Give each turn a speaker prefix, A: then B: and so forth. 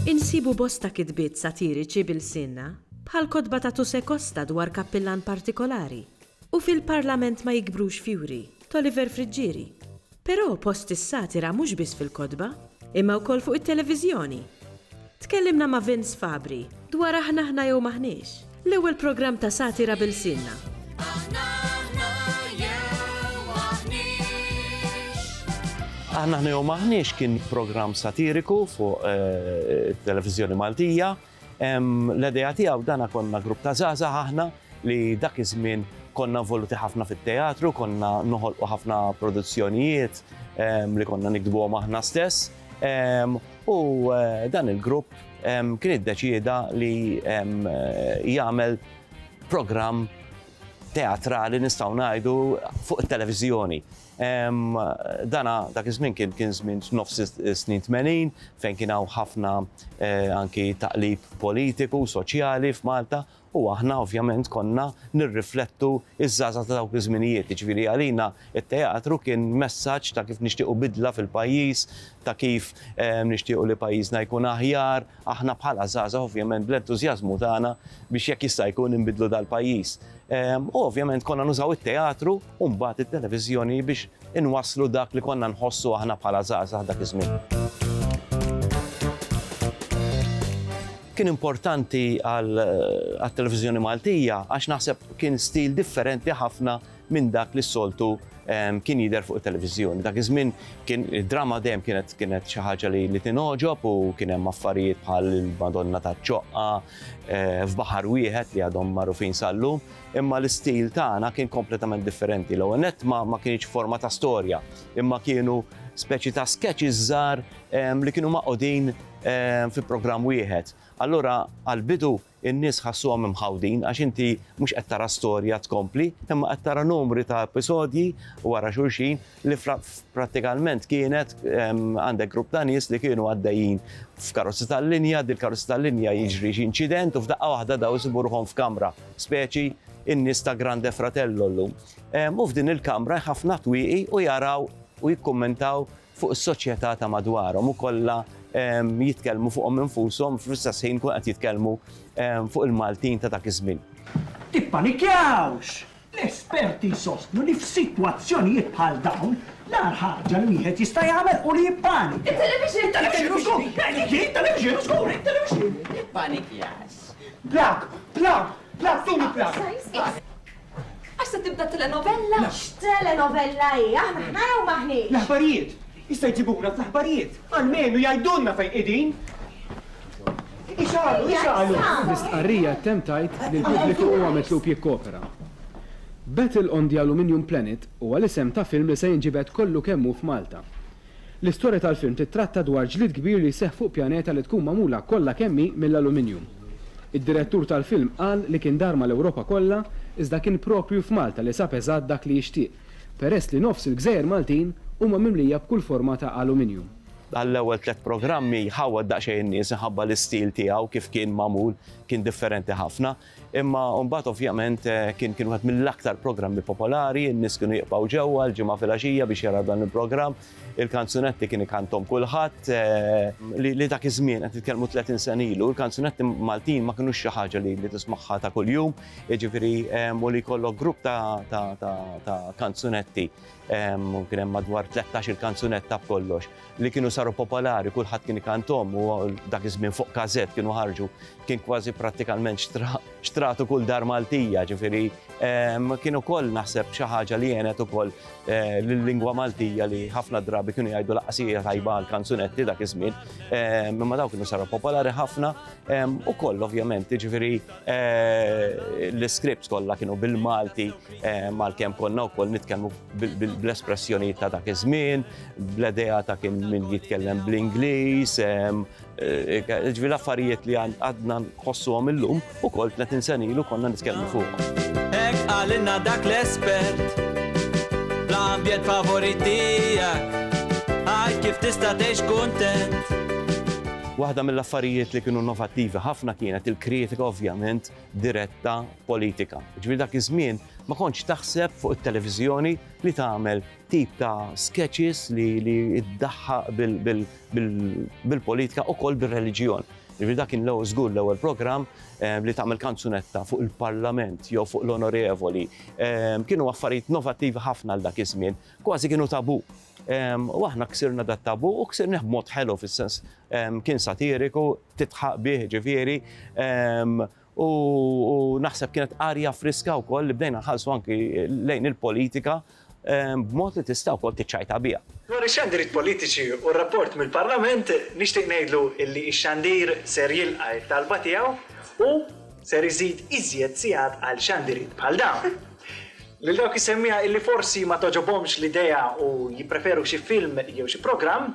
A: Insibu bosta kitbiet satiriċi b'ilsienna, bħall-kotba ta' Tuse Costa dwar kappillan partikolari, u Fil-Parlament ma jikbrux fjuri, t'Oliver Friggieri. Però post is-satira mhux biss fil-kotba, imma wkoll fuq it-televiżjoni. Tkellimna ma' Vince Fabri dwar Aħna Aħna Jew M'Aħniex, l-ewwel programm ta' satira b'ilsienna. Aħna Aħna Jew
B: M'Aħniex. Aħna Aħna Jew M'Aħniex kien programm satiriku fuq it-televiżjoni Maltija. L-idea tiegħu dana konna grupp ta' żgħażagħ aħna li dak iż-żmien konna involuti ħafna fit-teatru, konna noħolqu ħafna produzzjonijiet li konna niktbuhom aħna stess. U dan il-grupp kien iddeċieda li jagħmel programm teatrali nistgħu ngħidu fuq it-televiżjoni. Dan dak iż-żmien kien kien żmien f'nofs is-snin tmenin fejn kien hawn ħafna anki taqlib politiku, soċjali f'Malta u aħna ovvjament konna nirriflettu ż-żgħażagħ ta' dawk iż-żminijiet. Jiġifieri għalina t-teatru kien messaġġ ta' kif nixtiequ bidla fil-pajjiż, ta' kif nixtiequ li pajjiżna jkun aħjar, aħna bħala żgħażagħ ovvjament bl-entużjażmu tagħna biex jekk jista' jkun inbiddlu dal-pajjiż. U ovvjament konna nużaw it-teatru u mbagħad it-televiżjoni biex inwasslu dak li konna nħossu aħna bħala żgħażagħ dak iż-żmien. Kien importanti għat-televiżjoni Maltija għax naħseb kien stil differenti ħafna minn dak li s-soltu ehm, kien jidher fuq it-televiżjoni. Dak iż-żmien kien id-drama dejjem kienet kienet xi ħaġa li li tinogħġob u kien hemm affarijiet bħal il-Madonna taċ-ċoqqa eh, f'baħar wieħed li għadhom magħrufin sallu. Imma l-istil tagħna kien kompletament differenti. L-ewwel nett ma, ma kienx forma ta' storja, imma kienu speċi ta' sketches żgħar ehm, li kienu maqodin ehm, fi programm wieħed. Allura għal-bidu in-nies ħassuhom imħawdin għax inti mhux qed tara storja tkompli, imma qed tara numri ta' episodji wara xulxin li prattikalment kienet għandek grupp ta' nies li kienu għaddejjin f'karozzi tal-linja, dil karozzi tal-linja jiġri xi inċident u f'daqqa waħda daw isibu ruħhom f'kamra, speċi in-nies ta' Grande Fratello llum. U f'din il-kamra ħafna twieqi u jaraw u jikkummentaw fuq is-soċjetà ta' madwarhom u kollha jitkellmu fuqhom infushom fl-istess ħin kun qed jitkellmu fuq il-Maltin ta' dak iż-żmien. Tippanikjawx!
C: L-esperti jsostnu li f'sitwazzjonijiet bħal dawn, l-agħar ħaġa li wieħed jista' jagħmel hu li jippanika. Issa jġibuna fl-aħbarijiet, almenu jgħidulna fejn qegħdin. Ixgħalu, ixgħalu! L-istqarrija
D: temm tgħid li l-pubbliku huwa mitlub jikkopera. Battle on the Aluminium Planet huwa l-isem ta' film li se jinġibed kollu kemm hu f'Malta. L-istorja tal-film tittratta dwar ġlied kbir li jseħħ fuq pjaneta li tkun magħmula kollha kemm hi mill-aluminjum. Id-direttur tal-film qal li kien dar mal-Ewropa kollha iżda kien proprju f'Malta li sab eżatt dak li jixtieq. peress li nofs il-gżejjer Maltin huma mimlija b'kull forma ta' aluminjum. Għall-ewwel tliet
B: programmi ħawwad daqsxejn in-nies minħabba l-istil tiegħu kif kien magħmul, kien differenti ħafna. Imma mbagħad ovvjament kien kien wieħed mill-aktar programmi popolari, in-nies kienu jiqbgħu ġewwa l-Ġimgħa filgħaxija biex jaraw dan il-programm. Il-kanzunetti kien ikanthom kulħadd li dak iż-żmien qed nitkellmu 30 sena ilu, il-kanzunetti Maltin ma kinux xi ħaġa li tismagħha ta' kuljum, jiġifieri u li jkollok grupp ta' kanzunetti kien hemm madwar 13 il-kanzunetta b'kollox li kienu saru popolari kulħadd kien ikanthom u dak iż-żmien fuq każett kienu ħarġu kien kważi prattikalment xtratu kull dar Maltija, ġifiri, kien ukoll naħseb xi ħaġa li jenet ukoll eh, l-lingwa Maltija li ħafna drabi kienu jgħidu laqasija tajba għal kanzunetti dak iż-żmien, imma daw kienu saru popolari ħafna u koll ovvjament, ġifiri eh, l-scripts kollha kienu bil-Malti mal-kemm konna wkoll nitkellmu bl-espressjonijiet ta' dak iż-żmien, bl-idea ta' kien min jitkellem bl-Ingliż, Ġifieri l-affarijiet li għadna nħossuhom illum ukoll 30 sena ilu konna nitkellmu fuqhom. Hekk qalilna
E: dak l-espert fl-ambjent favorit tiegħek għid kif tista' tgħix kuntent. Waħda
B: mill-affarijiet li kienu innovattivi ħafna kienet il-kritika ovvjament diretta politika. Ġifieri dak iż-żmien ma kontx taħseb fuq it-televiżjoni li tagħmel tip ta' sketches li iddaħħaq bil-politika ukoll bir-reliġjon. Jiġifieri dak kien l-ewwel żgur l-ewwel programm ehm, li tagħmel kanzunetta fuq il-Parlament jew fuq l-onorevoli. Ehm, kienu affarijiet novattivi ħafna għal dak iż-żmien, kważi kienu tabu. Ehm, u aħna ksirna dat tabu u ksirna b'mod ħelu fis-sens kien satiriku, titħaq bih ġifieri. u naħseb kienet arja friska wkoll li bdejna nħallsu anki lejn il-politika b'mod li tista' wkoll tiċċajta biha. Dwar ix-xandiriet
C: politiċi u r-rapport mill-Parlament, nixtieq ngħidlu li x-xandir ser jilqa' t-talba tiegħu u ser iżid iżjed sigħat għal xandiriet bħal dawn. Lil dawk is-semmiegħa li forsi ma togħġobhomx l-idea u jippreferu xi film jew xi programm,